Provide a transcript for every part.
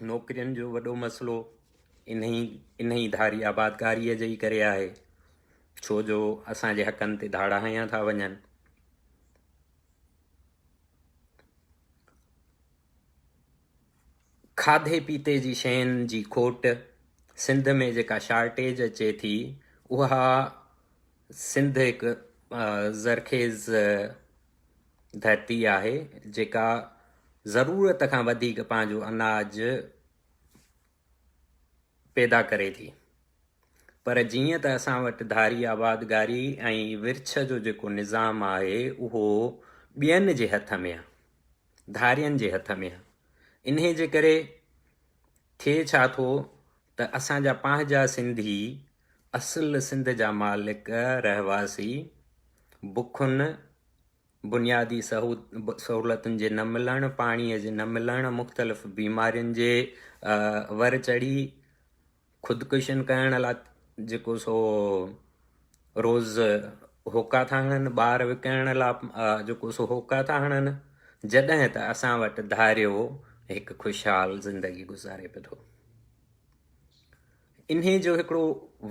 نوڪرين جو وڏو مسئلو انهي انهي ڌاري آبادگاريء جي ئي ڪري آهي ڇو جو اسان جي حقن تي ڌاڙا هنيا ٿا وڃن کاڌي پيتي جي شين جي کوٽ سنڌ ۾ جيڪا شارٽيج اچي ٿي اها سنڌ هڪ زرخيز ڌرتي آهي جيڪا ضرورت کان وڌيڪ پنهنجو اناج پيدا ڪري ٿي پر جيئن ته اسان وٽ ڌاري آبادگاري ۽ ورڇ جو جيڪو نظام آهي اهو ٻين جي هٿ ۾ آهي ڌارين جي هٿ ۾ آهي انهي جي ڪري ٿئي ڇا ٿو ته اسان جا پنهنجا سنڌي، اصل سنڌ جا مالڪ رهواسي، بکن، بنيادي سهولتن جي نه ملڻ، پاڻي جي نه ملڻ، مختلف بيمارين جي ور چڙهي خودڪشين ڪرڻ لاء جيڪو سو روز هوڪا ٿا هڻن، ٻار وڪڻڻ لا جيڪو سو هوڪا ٿا هڻن، جڏهن ته اسان وٽ ڌاريو هڪ خوشحال زندگي گذاري پئي ٿو. انهي جو هڪڙو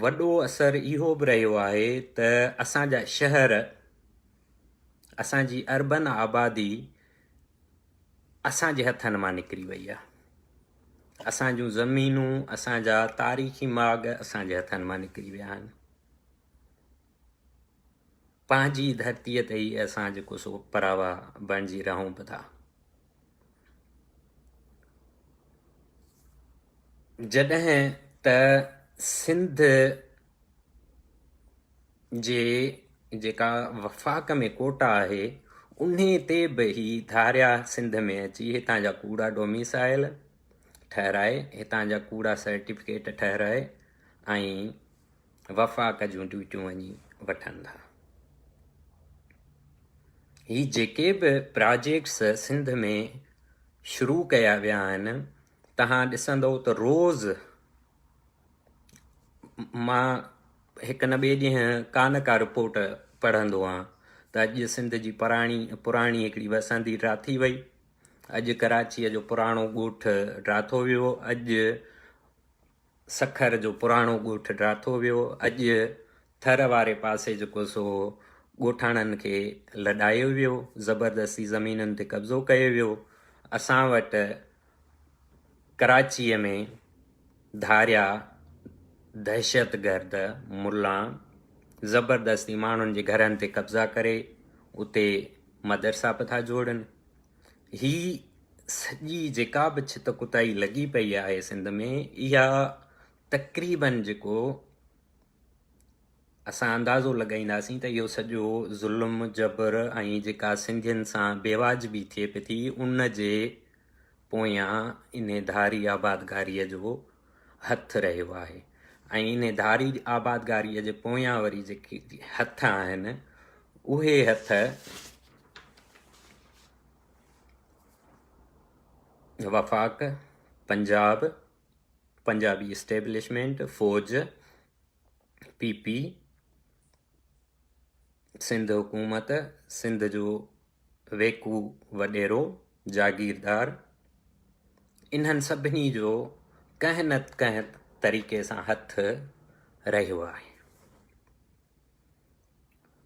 وڏو اثر اهو به رهيو آهي ته اسان جا شهر اسان جي اربن آبادي اسان جي هٿن مان نڪري وئي آهي اسان جون زمينون اسان جا تاريخي ماڳ اسان جي هٿن مان نڪري ويا آهن پنهنجي ڌرتي تي ئي اسان جيڪو سو پراوا بڻجي رهون به ٿا جڏهن ته سنڌ جي جيڪا وفاق ۾ ڪوٽا آهي انهي تي به هي ڌاريا سنڌ ۾ اچي هتان جا ڪوڙا ڊوميسائل ٺهرائي هتان جا ڪوڙا سرٽيفڪيٽ ٺهرائي ۽ وفاق جون ڊيوٽيون وڃي وٺن ٿا هي جيڪي به پراجيڪٽس سنڌ ۾ شروع ڪيا ويا آهن تهان ڏسندو ته روز مان هڪ نه ٻئي ڏينهن ڪا نه ڪا رپورٽ پڙهندو آهيان ته اڄ سنڌ جي پراڻي پراڻي هڪڙي وسندي ڊاٿي وئي اڄ ڪراچيء جو پراڻو ڳوٺ ڊاٿو ويو اڄ سکر جو پراڻو ڳوٺ ڊاٿو ويو اڄ ٿر واري پاسي جيڪو سو ڳوٺاڻن کي لڏايو ويو زبردستي زمينن تي قبضو ڪيو ويو اسان وٽ ڪراچيء ۾ ڌاريا دهشتگرد ملا زبردستي ماڻهن جي گهرن تي قبضا ڪري اتي مدرسا به ٿا جوڙن هي سڄي جيڪا به ڇت ڪتائي لڳي پئي آهي سنڌ ۾ اها تقريبن جيڪو اسان اندازو لڳائينداسين ته اهو سڄو ظلم، جبر ۽ جيڪا سنڌين سان بيواجبي ٿئي پئي ٿي ان جي پويان انهي ڌاري آبادگاريء جو هٿ رهيو آهي ۽ انهي ڌاري آبادگاريء جي پويان وري جيڪي هٿ آهن اهي هٿ وفاق، پنجاب، پنجابي اسٽيبلشمينٽ، فوج، پي پي سنڌ حڪومت سنڌ جو ويڪو وڏيرو جاگيردار انهن سڀني جو ڪنهن نه ڪنهن طريقي سان هٿ رهيو آهي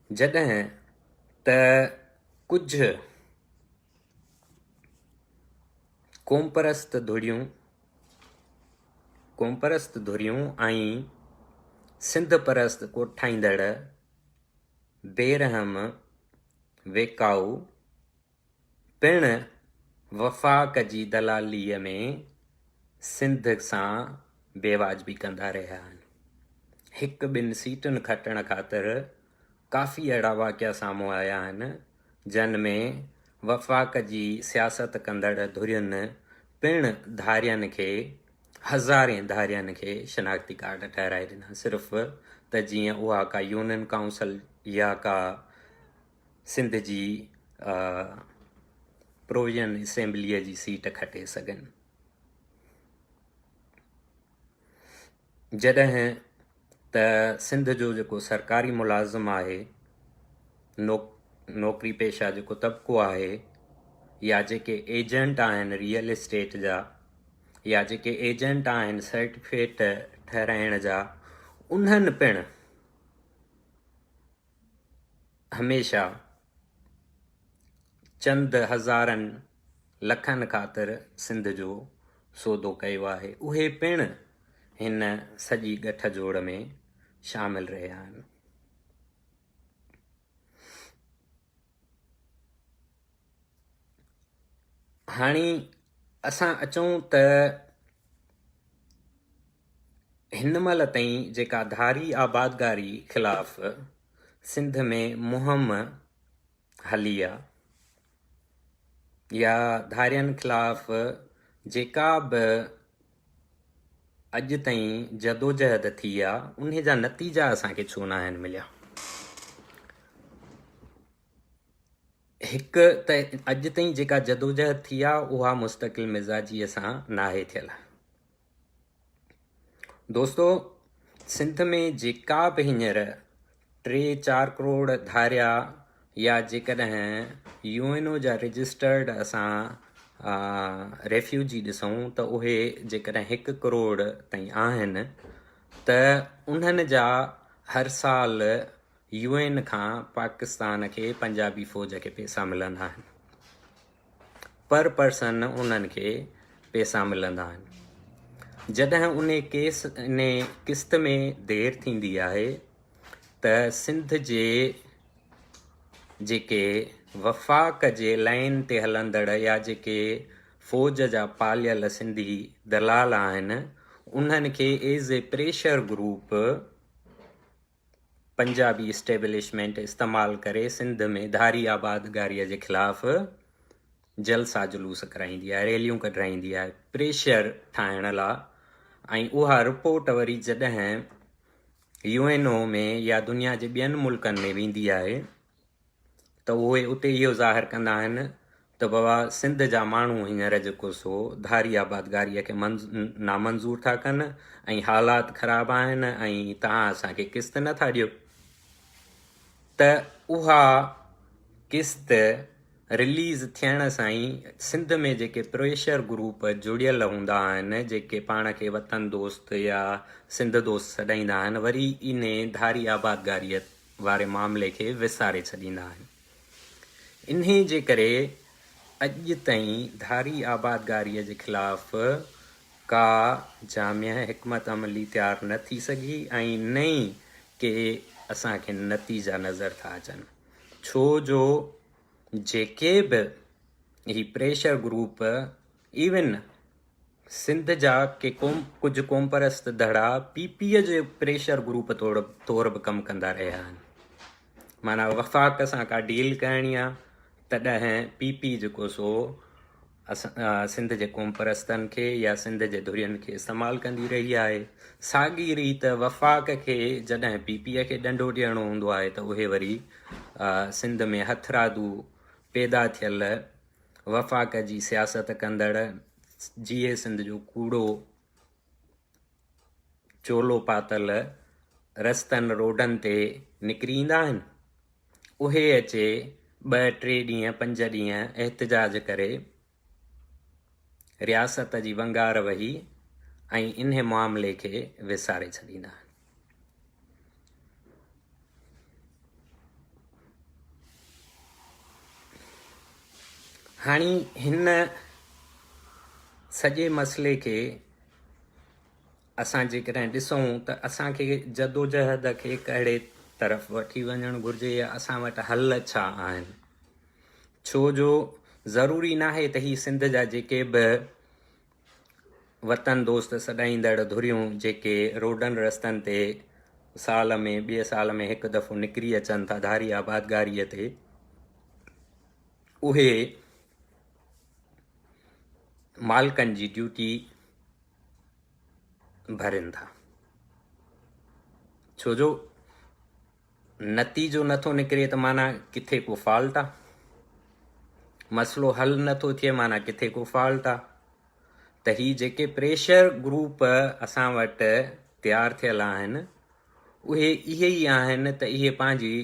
جڏهن ته ڪجهه قومپرست ڌريون قومپرست ڌريون ۽ سنڌ پرست ڪوٺائيندڙ بيرحم ويڪائو پڻ وفاق جي دلاليء ۾ سنڌ سان بيواجبي ڪندا رهيا آهن. هڪ ٻن سيٽن کٽڻ خاطر ڪافي اهڙا واقعا سامهون آيا آهن، جن ۾ وفاق جي سياست ڪندڙ ڌرين پڻ ڌارين کي هزارين ڌارين کي شناختي ڪارڊ ٺهرائي ڏنا صرف ته جيئن اها ڪا يونين ڪائونسل يا ڪا سنڌ جي پروويزن اسيمبليء جي سيٽ کٽي سگهن. جڏهن ته سنڌ جو جيڪو سرڪاري ملازم آهي، نوڪري پيشه جيڪو طبقو آهي يا جيڪي ايجنٽ آهن ريئل اسٽيٽ جا يا جيڪي ايجنٽ آهن سرٽيفڪيٽ ٺهرائڻ جا انهن پڻ هميشه چند هزارن لکن خاطر سنڌ جو سودو ڪيو آهي اهي پڻ هن سڄي ڳٺ جوڙ ۾ شامل رهيا آهن. هاڻي اسان اچون ته هن مهل تائين جيڪا ڌاري آبادگاري خلاف سنڌ ۾ مهم هلي آ يا ڌارين خلاف جيڪا به اڄ تائين جدوجهد ٿي آ انهي جا نتيجا اسان کي ڇو ناهن مليا؟ هڪ ته اڄ تائين جيڪا جدوجهد ٿي آ اها مستقل مزاجيء سان ناهي ٿيل. دوستو سنڌ ۾ جيڪا به هينئر ٽي چار ڪروڙ ڌاريا يا جيڪڏهن يو اين او جا رجسٽرڊ اسان ريفيوجي ڏسون ته اهي جيڪڏهن هڪ ڪروڙ تائين آهن ته انهن جا هر سال يو اين کان پاڪستان کي پنجابي فوج کي پيسا ملندا آهن پر پرسن انهن کي پيسا ملندا آهن جڏهن ان ڪيس ان قسط ۾ دير ٿيندي آهي ته سنڌ جي جيڪي وفاق جي لائن تي هلندڙ يا جيڪي فوج جا پاليل سنڌي دلال آهن انهن کي as a pressure group Punjabi establishment استعمال ڪري سنڌ ۾ ڌاري آبادگاريء جي خلاف جلسا جلوس ڪرائيندي آهي، ريليون ڪڍرائيندي آهي، پريشر ٺاهڻ لا۽ اها رپورٽ وري جڏهن يو اين او ۾ يا دنيا جي ٻين ملڪن ۾ ويندي آهي ته اهي اتي اهو ظاهر ڪندا آهن ته بابا سنڌ جا ماڻهو هينئر جيڪو سو ڌاري آبادگاريء کي نامنظور ٿا ڪن ۽ حالات خراب آهن ۽ توهان اسان کي قسط نه ٿا ڏيو ته اها قسط رليز ٿيڻ سان ئي سنڌ ۾ جيڪي پريشر گروپ جڙيل هوندا آهن جيڪي پاڻ کي وطن دوست يا سنڌ دوست سڏائيندا آهن وري انهي ڌاري آبادگاريء واري معاملي کي وساري ڇڏيندا آهن. انهي جي ڪري اڄ تائين ڌاري آبادگاري جي خلاف ڪا جامع حڪمت عملي تيار نه ٿي سگهي ۽ نه ئي ڪي اسان کي نتيجا نظر ٿا اچن ڇو جو جيڪي به هي پريشر گروپ ايون سنڌ جا ڪي قوم ڪجهه قومپرست ڌڙا پي پي جي پريشر گروپ طور طور به ڪم ڪندا رهيا آهن معنيٰ وفاق سان ڪا ڊيل ڪرڻي آهي تڏهن پي پي جيڪو سو سنڌ جي قومپرستن کي يا سنڌ جي ڌرين کي استعمال ڪندي رهي آهي ساڳي ريت وفاق کي جڏهن پي پي کي ڏنڊو ڏيڻو هوندو آهي ته اهي وري سنڌ ۾ هٿرادو پيدا ٿيل وفاق جي سياست ڪندڙ جيئي سنڌ جو ڪوڙو چولو پاتل رستن روڊن تي نڪري ايندا آهن اهي اچي ٻه ٽي ڏينهن پنج ڏينهن احتجاج ڪري رياست جي ونگار وهي ۽ انهي معاملي کي وساري ڇڏيندا آهن. هاڻي هن سڄي مسئلي کي اسان جيڪڏهن ڏسون ته اسان کي جدوجهد کي ڪهڙي طرف وٺي وڃڻ گهرجي يا اسان وٽ حل ڇا آهن ڇو جو ضروري ناهي ته هي سنڌ جا جيڪي به وطن دوست سڏائيندڙ ڌريون جيڪي روڊن رستن تي سال ۾ ٻئي سال ۾ هڪ دفعو نڪري اچن ٿا ڌاري آبادگاريء تي اهي مالڪن جي ڊيوٽي ڀرين ٿا ڇو جو نتيجو نٿو نڪري ته معنيٰ ڪٿي ڪو فالٽ آ. مسئلو حل نٿو ٿئي معنيٰ ڪٿي ڪو فالٽ آ. ته هي جيڪي پريشر گروپ اسان وٽ تيار ٿيل آهن اهي اهي ئي آهن ته اهي پنهنجي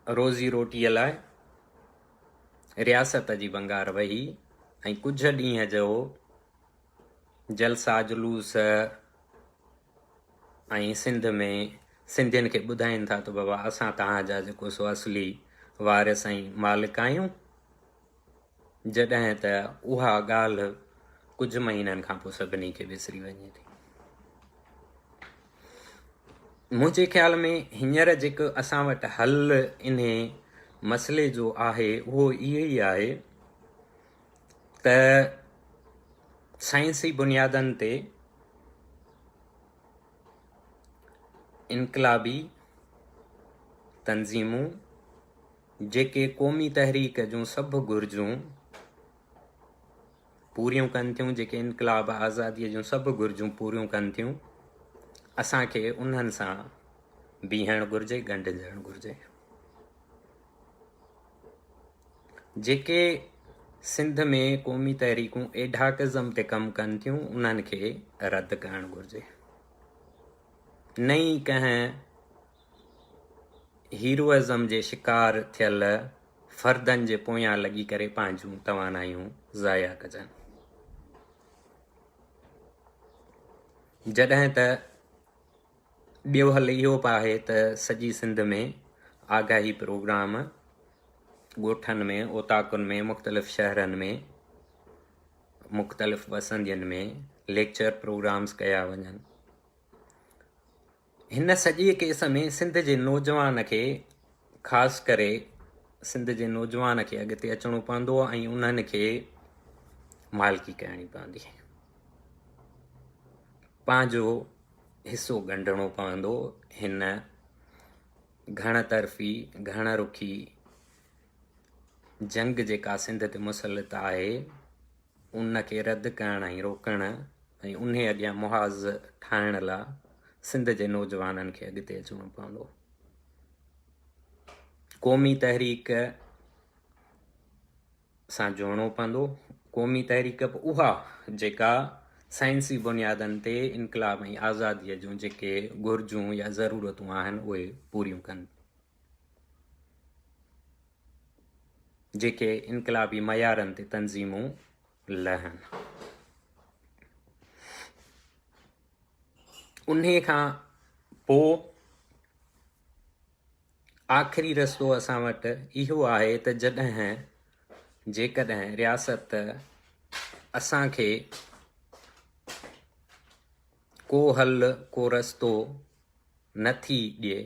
روزي روٽيء لاء رياست جي ڀنگار وهي ۽ ڪجهه ڏينهن جو جلسا جلوس ۽ سنڌ ۾ سنڌين کي ٻڌائين ٿا ته بابا اسان توهان جا جيڪو سو اصلي وارث ۽ مالڪ آهيون جڏهن ته اها ڳالهه ڪجهه مهينن کان پوء سڀني کي وسري وڃي ٿي منهنجي خيال ۾ هينئر جيڪو اسان وٽ حل انهي مسئلي جو آهي اهو اهو ئي آهي ته سائنسي بنيادن تي انقلابي تنظيمون جيڪي قومي تحريڪ جون سڀ گهرجون پوريون ڪن ٿيون جيڪي انقلاب آزاديء جون سڀ گهرجون پوريون ڪن ٿيون اسان کي انهن سان بيهڻ گهرجي ڳنڍجڻ گهرجي جيڪي سنڌ ۾ قومي تحريڪون ايڊهاڪزم تي ڪم ڪن ٿيون انهن کي رد ڪرڻ گهرجي نه ئي ڪنهن هيروئزم جي شڪار ٿيل فردن جي پويان لڳي ڪري پنهنجون توانايون ضايع ڪجن جڏهن ته ٻيو حل اهو به آهي ته سڄي سنڌ ۾ آگاهي پروگرام ڳوٺن ۾ اوطاقن ۾ مختلف شهرن ۾ مختلف وسندين ۾ ليڪچر پروگرامز ڪيا وڃن هن سڄي ڪيس ۾ سنڌ جي نوجوان کي خاص ڪري سنڌ جي نوجوان کي اڳتي اچڻو پوندو ۽ انهن کي مالڪي ڪرڻي پوندي پنهنجو حصو ڳنڍڻو پوندو هن گهڻ طرفي گهڻ رخي جنگ جيڪا سنڌ تي مسلط آهي ان کي رد ڪرڻ ۽ روڪڻ ۽ ان اڳيان محاذ ٺاهڻ لاء سنڌ جي نوجوانن کي اڳتي اچڻو پوندو قومي تحريڪ سان جوڙڻو پوندو. قومي تحريڪ به اها جيڪا سائنسي بنيادن تي انقلاب ۽ آزاديء جون جيڪي گهرجون يا ضرورتون آهن اهي پوريون ڪن. جيڪي انقلابي معيارن تي تنظيمون لهن. انهي کان پوء آخري رستو اسان وٽ اهو آهي ته جڏهن جيڪڏهن رياست اسان کي ڪو حل ڪو رستو نه ٿي ڏئي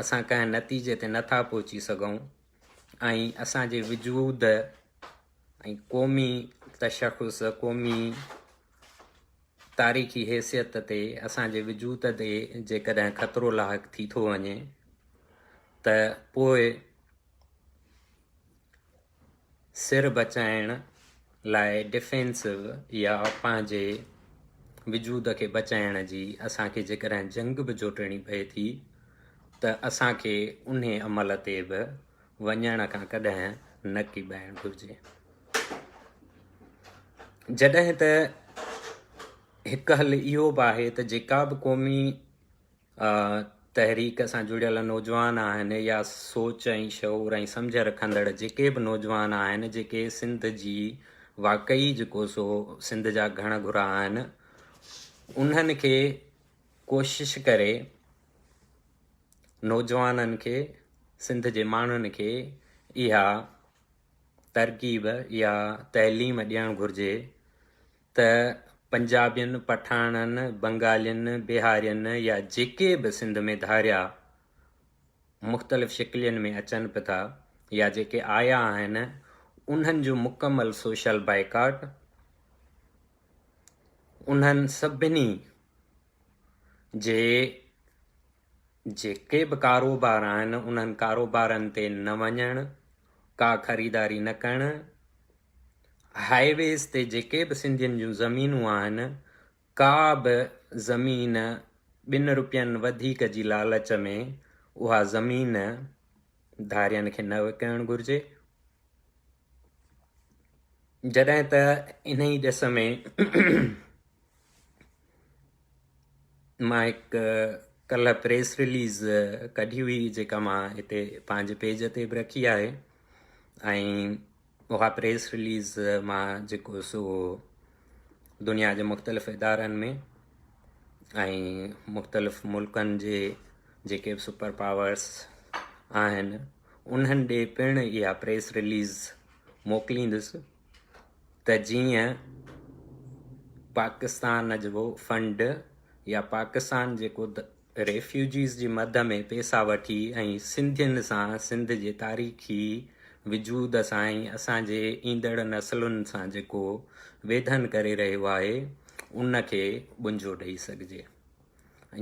اسان ڪنهن نتيجي تي نٿا پهچي سگهون ۽ اسان جي وجود ۽ قومي تشخص قومي تاريخي حيثيت تي اسان جي وجود تي جيڪڏهن خطرو لاحق ٿي ٿو وڃي ته پوء سر بچائڻ لاء ڊفينسو يا پنهنجي وجود کي بچائڻ جي اسان کي جيڪڏهن جنگ به جوٽڻي پئي ٿي ته اسان کي انهي عمل تي به وڃڻ کان ڪڏهن نه ڪيٻائڻ گهرجي. جڏهن ته هڪ حل اهو به آهي ته جيڪا به قومي تحريڪ سان جڙيل نوجوان آهن يا سوچ ۽ شعور ۽ سمجھ رکندڙ جيڪي به نوجوان آهن جيڪي سنڌ جي واقعي جيڪو سو سنڌ جا گهڻ گهرا آهن انهن کي ڪوشش ڪري نوجوانن کي سنڌ جي ماڻهن کي اها ترڪيب اها تعليم ڏيڻ گهرجي ته پنجابين پٺاڻن بنگالين بهارين يا جيڪي به سنڌ ۾ ڌاريا مختلف شڪلين ۾ اچن پي ٿا يا جيڪي آيا آهن انهن جو مڪمل سوشل بائيڪاٽ انهن سڀني جي جيڪي به ڪاروبار آهن انهن ڪاروبارن تي نه وڃڻ، ڪا خريداري نه ڪرڻ، هاء ويز تي جيڪي به سنڌين جون زمينون آهن ڪا به زمين ٻن روپين وڌيڪ جي لالچ ۾ اها زمين ڌارين کي نه وڪڻڻ گهرجي. جڏهن ته انهي ڏس ۾ مان هڪ ڪلهه پريس رليز ڪڍي هئي جيڪا مان هتي پنهنجي پيج تي به رکي آهي ۽ اها پريس رليز مان جيڪو سو دنيا جي مختلف ادارن ۾ ۽ مختلف ملڪن جي جيڪي به سپر پاورس آهن انهن ڏي پڻ اها پريس رليز موڪليندس ته جيئن پاڪستان جو فنڊ يا پاڪستان جيڪو ريفيوجيز جي مد ۾ پيسا وٺي ۽ سنڌين سان سنڌ جي تاريخي وجود سان ۽ اسان جي ايندڙ نسلن سان جيڪو ويڌن ڪري رهيو آهي ان کي ٻنجو ڏئي سگهجي.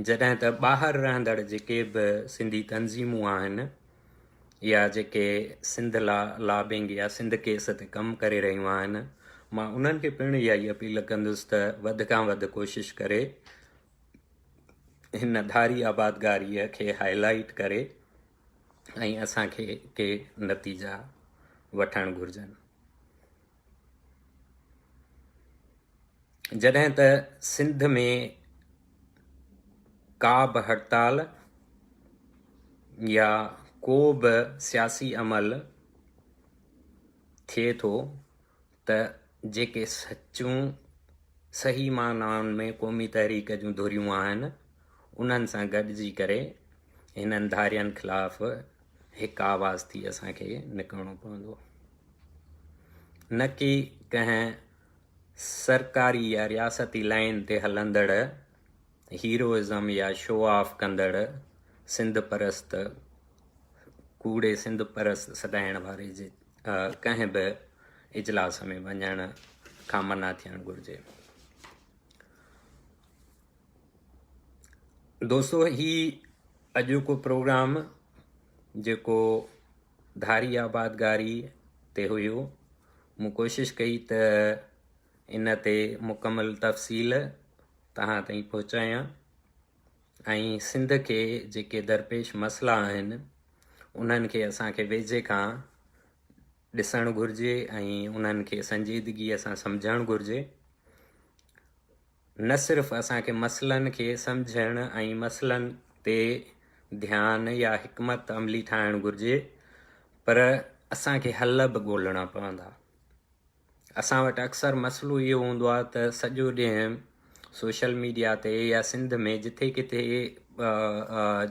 جڏهن ته ٻاهر رهندڙ جيڪي به سنڌي تنظيمون آهن يا جيڪي سنڌ لا لابنگ يا سنڌ ڪيس تي ڪم ڪري رهيون آهن مان انهن کي پڻ اها ئي اپيل ڪندس ته وڌ کان وڌ ڪوشش ڪري هن ڌاري آبادگاري کي هائلائيٽ ڪري ۽ اسان کي ڪي نتيجا وٺڻ گهرجن جڏهن ته سنڌ ۾ ڪا به هڙتال يا ڪو به سياسي عمل ٿئي ٿو ته جيڪي سچون صحيح معنائن ۾ قومي تحريڪ جون ڌريون آهن انهن سان گڏجي ڪري هنن ڌارين خلاف هڪ آواز ٿي اسان کي نڪرڻو پوندو نه ڪي ڪنهن سرڪاري يا رياستي لائين تي هلندڙ هيروئزم يا شو آف ڪندڙ سنڌ پرست ڪوڙي سنڌ پرست سڏائڻ واري جي ڪنهن به اجلاس ۾ وڃڻ کان منع ٿيڻ گهرجي دوستو هي اڄوڪو پروگرام جيڪو ڌاري آبادگاري تي هيو مون ڪوشش ڪئي ته ان تي مڪمل تفصيل تهان تائين پهچايان ۽ سنڌ کي جيڪي درپيش مسئلا آهن انهن کي اسانکي ويجهي کان ڏسڻ گهرجي ۽ انهن کي سنجيدگيء سان سمجهڻ گهرجي نه صرف اسان کي مسئلن کي سمجهڻ ۽ مسئلن تي ڌيان يا حڪمت عملي ٺاهڻ گهرجي پر اسان کي حل به ڳولهڻا پوندا. اسان وٽ اڪثر مسئلو اهو هوندو آهي ته سڄو ڏينهن سوشل ميڊيا تي يا سنڌ ۾ جٿي ڪٿي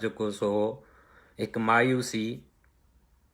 جيڪو سو هڪ مايوسي،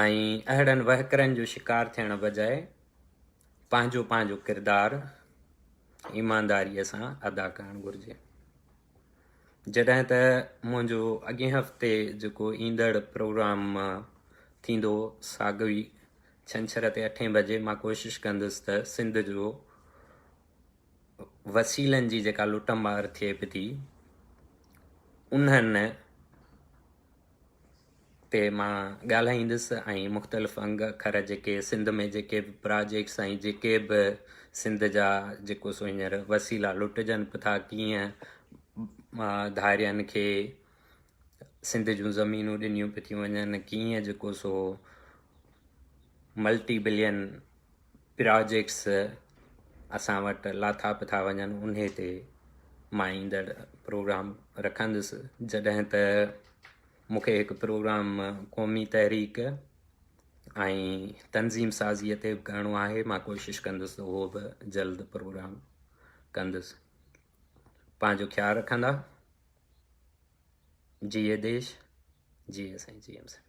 ۽ اهڙن وهڪرن جو شڪار ٿيڻ بجاء پنهنجو پنهنجو ڪردار ايمانداريء سان ادا ڪرڻ گهرجي. جڏهن ته منهنجو اڳين هفتي جيڪو ايندڙ پروگرام ٿيندو ساڳوي ڇنڇر تي اٺين بجي مان ڪوشش ڪندس ته سنڌ جو وسيلن جي جيڪا لٽ مار ٿئي پئي ٿي انهن تي مان ڳالهائيندس ۽ مختلف انگ اکر جيڪي سنڌ ۾ جيڪي به پراجيڪٽس ۽ جيڪي به سنڌ جا جيڪو سو هينئر وسيلا لٽجن به ٿا ڪيئن ڌارين کي سنڌ جون زمينون ڏنيون پيون ٿيون وڃن ڪيئن جيڪو سو ملٽي بلين پراجيڪٽس اسان وٽ لاٿاپ ٿا وڃن انهي تي مان ايندڙ پروگرام رکندس جڏهن ته مونکي هڪ پروگرام قومي تحريڪ ۽ تنظيم سازيء تي به ڪرڻو آهي مان ڪوشش ڪندس ته اهو به جلد پروگرام ڪندس پنهنجو خيال رکندا جيئي ديش جيئي سائين جي ايم سائين